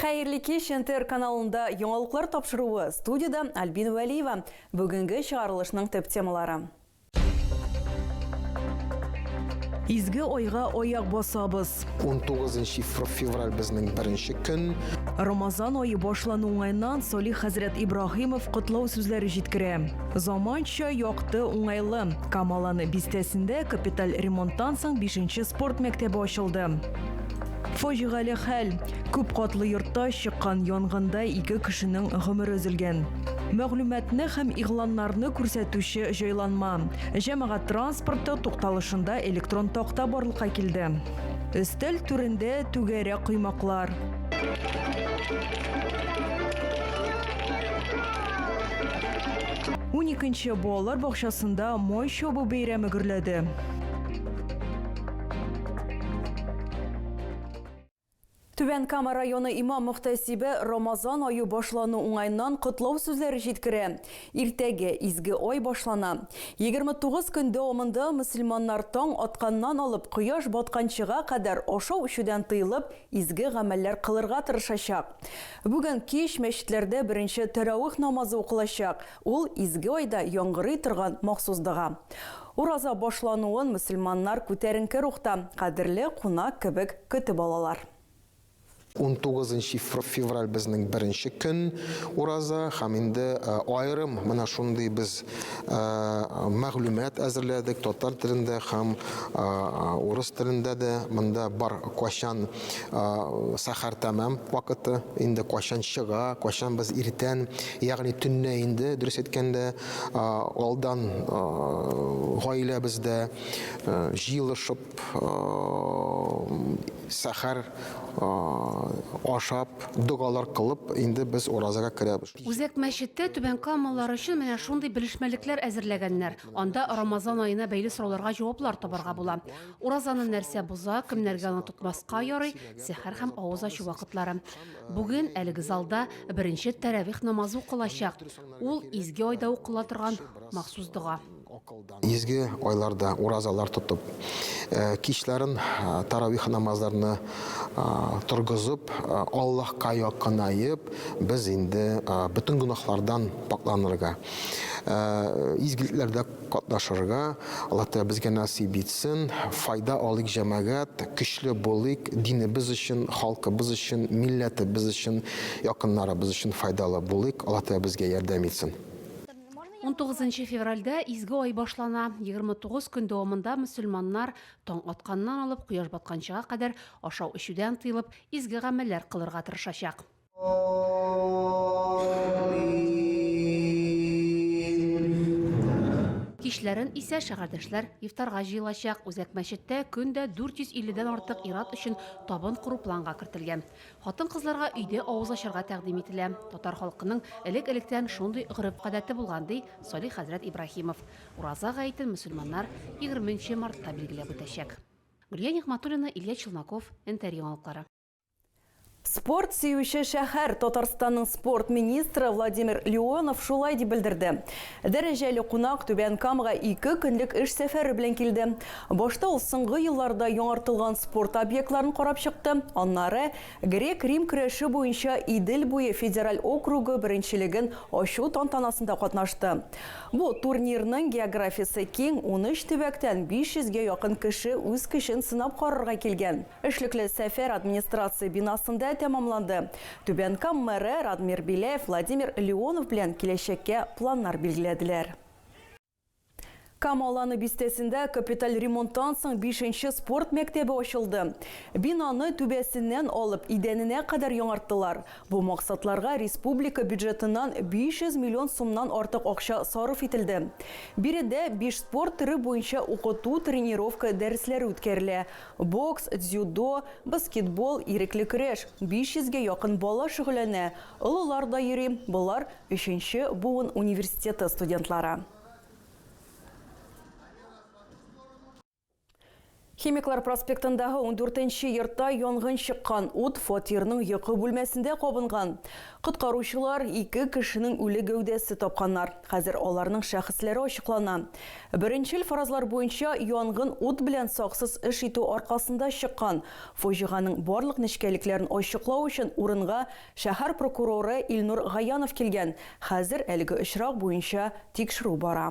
Хәерле кич, НТР каналында яңалыклар тапшыруы, студиядә Альбина Вәлиева. Бүгенге чыгарылышның төп темалары. Изге айга аяк басабыз. 19 февраль безнең беренче көн. Рамазан ае башлану уңаеннан Солих хәзрәт Ибраһимов котлау сүзләре җиткерә. Заманча, якты, уңайлы. Камаланы бистәсендә капиталь ремонттан соң бишенче спорт мәктәбе ачылды. Фаҗигале хәл, күп катлы йортта чыккан янгында ике кешенең гомере өзелгән. Мәгълүматны һәм игъланнарны күрсәтүче җайланма, җәмәгать транспорты тукталышында электрон такта барлыкка килде. Өстәл түрендә түгәрәк коймаклар. Уникенче балалар бакчасында май чабу бәйрәме гөрләде. Түбән Кама районы имам мөхтәсибе Рамазан аю башлану уңайыннан котлау сүзләре җиткерә. Иртәгә изге ай башлана. 29 көн дәвамында мөселманнар таң атканнан алып кояш батканчыга кадәр ашау-эчүдән тыелып, изге гамәлләр кылырга тырышачак. Бүген кич мәчетләрдә беренче тәравих намазы укылачак. Ул, изге айда яңгырый торган махсус дога. Ураза башлануын мөселманнар күтәренке рухта, кадерле кунак кебек көтеп алалар. Унтугызынчы февраль безнең беренче көн ураза һәм инде аерым менә шундый без мәгълүмат әзерләдек, татар телендә һәм урыс телендә дә монда бар, кайчан сәхәр тәмам вакыты, инде кайчан чыга, кайчан без иртән Ягъни төнлә инде, дөрес әйткәндә, алдан гаиләбездә җыелышып, сәхәр ашап, догалар кылып, инде без уразага керәбез. Үзәк мәчеттә Түбән Камалылар өчен менә шундый белешмәлекләр әзерләгәннәр. Анда Рамазан аена бәйле сорауларга җаваплар табарга була. Уразаны нәрсә боза, кемнәргә аны тотмаска ярый, сәхәр һәм авыз ачу вакытлары. Бүген әлеге залда беренче тәравих намазы укылачак. Ул изге айда укыла торган махсус дога. Изге айларда уразалар тотып, э, кичләрен э, таравих намазларны э, торгызып, Аллаһка якынаеп, без инде бөтен гөнаһлардан пакъланырга, изгелекләрдә катнашырга, Аллаһтәгалә безгә насыйп итсен, файда алыйк җәмәгать, көчле булыйк, динебез өчен, халкыбыз өчен, милләтебез өчен, якыннарыбыз өчен файдалы булыйк, Аллаһтәгалә безгә ярдәм итсен. Унтугызынчы февральдә изге ай башлана, егерме тугыз көн дәвамында мөселманнар таң атканнан алып кояш батканчыга кадәр ашау-эчүдән тыелып, изге гамәлләр кылырга тырышачак. Кичләрен исә шәһәрдәшләр ифтарга җыелачак. Үзәк мәчеттә көн дә 450 дән артык ир-ат өчен табын кору планга кертелгән. Хатын-кызларга өйдә авыз ачарга тәкъдим ителә. Татар халкының элек-электән шундый гореф-гадәте булган, ди Салих хәзрәт Ибраһимов. Ураза гаетен мөселманнар 20 нче мартта билгеләп үтәчәк. Гөлия Нигъмәтуллина, Илья Челноков, НТР Яңалыклары. Спорт сөюче шәһәр Татарстанның спорт министры Владимир Леонов шулай дип белдерде. Дәрәҗәле кунак Түбән Камага ике көнлек эш сәфәре белән килде. Башта ул соңгы елларда яңартылган спорт объектларын карап чыкты. Аннары грек-рим көрәше буенча Идел буе федераль округы беренчелеген ачу тантанасында катнашты. Бу турнирның географиясе киң, 13 төбәктән 500 гә якын кеше үз көчен сынап карарга килгән. Эшлекле сәфәр администрация бинасында тәмамланды. Түбән Кам мэры Радмир Беляев Владимир Леонов белән киләчәккә планнар билгеләделәр. Кама Аланы бистәсендә капиталь ремонттан соң бишенче спорт мәктәбе ачылды. Бинаны түбәсеннән алып, идәненә кадәр яңарттылар. Бу максатларга республика бюджетыннан 500 миллион сумнан артык акча сарыф ителде. Биредә биш спорт төре буенча укыту-тренировка дәресләре үткәрелә, Бокс, дзюдо, баскетбол, ирекле көрәш. 500 гә якын бала шөгыльләнә, олылар да йөри. Болар, өченче буын университеты студентлары. Химиклар проспектындагы ундүртенче йортта янгын чыккан. Ут фатирның йокы бүлмәсендә кабынган. Коткаручылар ике кешенең үле гәүдәсе тапканнар. Хәзер аларның шәхесләре ачыклана. Беренчел фаразлар буенча, янгын ут белән саксыз эш итү аркасында чыккан. Фаҗиганең барлык нечкәлекләрен ачыклау өчен урынга шәһәр прокуроры Илнур Гаянов килгән. Хәзер әлеге очрак буенча тикшерү бара.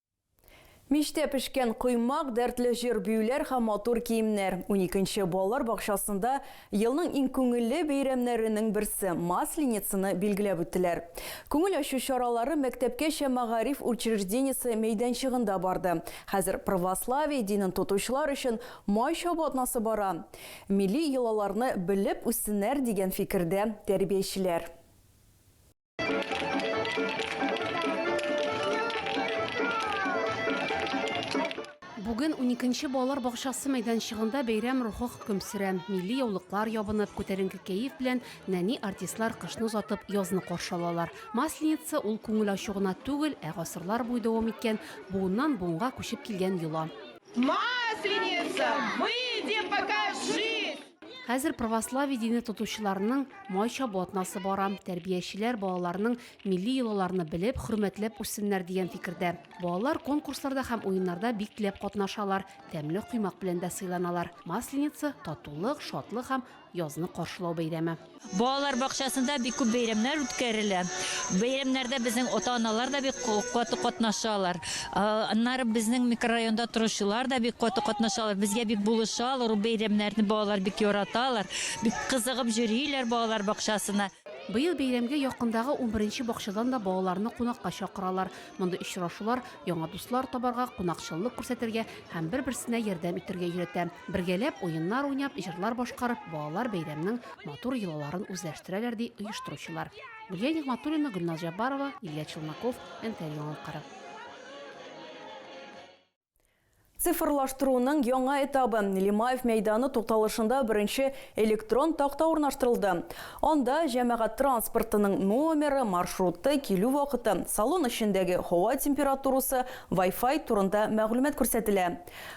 Мичтә пешкән коймак, дәртле җыр-биюләр һәм матур киемнәр. Уникенче балалар бакчасында елның иң күңелле бәйрәмнәренең берсе, Масленицаны билгеләп үттеләр. Күңел ачу чаралары мәктәпкәчә мәгариф учреждениесе мәйданчыгында барды. Хәзер православие динен тотучылар өчен май чабу атнасы бара. Милли йолаларны белеп үссеннәр, дигән фикердә тәрбиячеләр. Бүген уникенче балалар бакчасы мәйданчыгында бәйрәм рухы хөкем сөрә. Милли яулыклар ябынып, күтәренке кәеф белән нәни артистлар кышны озатып, язны каршы алалар. Масленица, ул күңел ачу гына түгел, ә гасырлар буе дәвам иткән, буыннан буынга күчеп килгән йола. Масленица, выйди, покажись! Хәзер православие дине тотучыларның май чабу атнасы бара. Тәрбиячеләр балаларның милли йолаларны белеп, хөрмәтләп үссеннәр дигән фикердә. Балалар конкурсларда һәм уеннарда бик теләп катнашалар, тәмле коймак белән дә сыйланалар. Масленица, татулык, шатлык һәм язны каршылау бәйрәме. Балалар бакчасында бик күп бәйрәмнәр үткәрелә. Бәйрәмнәрдә безнең ата-аналар да бик каты катнашалар. Аннары безнең микрорайонда торучылар да бик каты катнашалар. Безгә бик булышалар, ул бәйрәмнәрне балалар бик яраталар. Бик кызыгып җөриләр балалар бакчасына. Быел бәйрәмгә якындагы унберенче бакчадан да балаларны кунакка чакыралар. Мондый очрашулар, яңа дуслар табарга, кунакчыллык күрсәтергә, һәм бер-берсенә ярдәм итәргә өйрәтә. Бергәләп уеннар уйнап, җырлар башкарып, балалар бәйрәмнең матур йолаларын үзләштерәләр, ди оештыручылар. Гөлия Нигъмәтуллина, Гөлназ Җаббарова, Илья Челноков, НТР яңалыклары. Цифрлаштыруның яңа этабы, Лимаев мәйданы тукталышында беренче электрон такта урнаштырылды. Анда җәмәгать транспортының номеры, маршруты, килү вакыты, салон эчендәге һава температурасы, Вай-фай турында мәгълүмат күрсәтелә.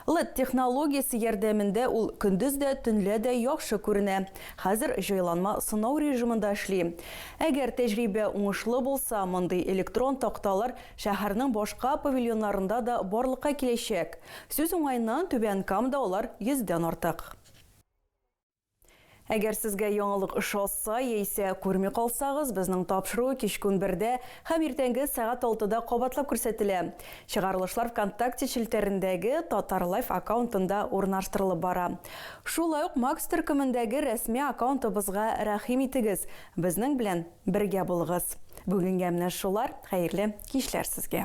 Led технологиясе ярдәмендә ул көндез дә, төнлә дә яхшы күренә. Хәзер җайланма сынау режимында эшли. Әгәр тәҗрибә уңышлы булса, мондый электрон такталар шәһәрнең башка павильоннарында да барлыкка киләчәк. Сүз уңаеннан, Түбән Камада алар йөздән артык. Әгәр сезгә яңалык ошаса яисә күрми калсагыз, безнең тапшыру кичке унбердә һәм иртәнге сәгать алтыда кабатлап күрсәтелә. Чыгарылышлар ВКонтакте челтәрендәге Татарлайф аккаунтында урнаштырылып бара. Шулай ук Макс төркемендәге рәсми аккаунтыбызга рәхим итегез, безнең белән бергә булыгыз. Бүгенгә менә шулар, хәерле кичләр сезгә!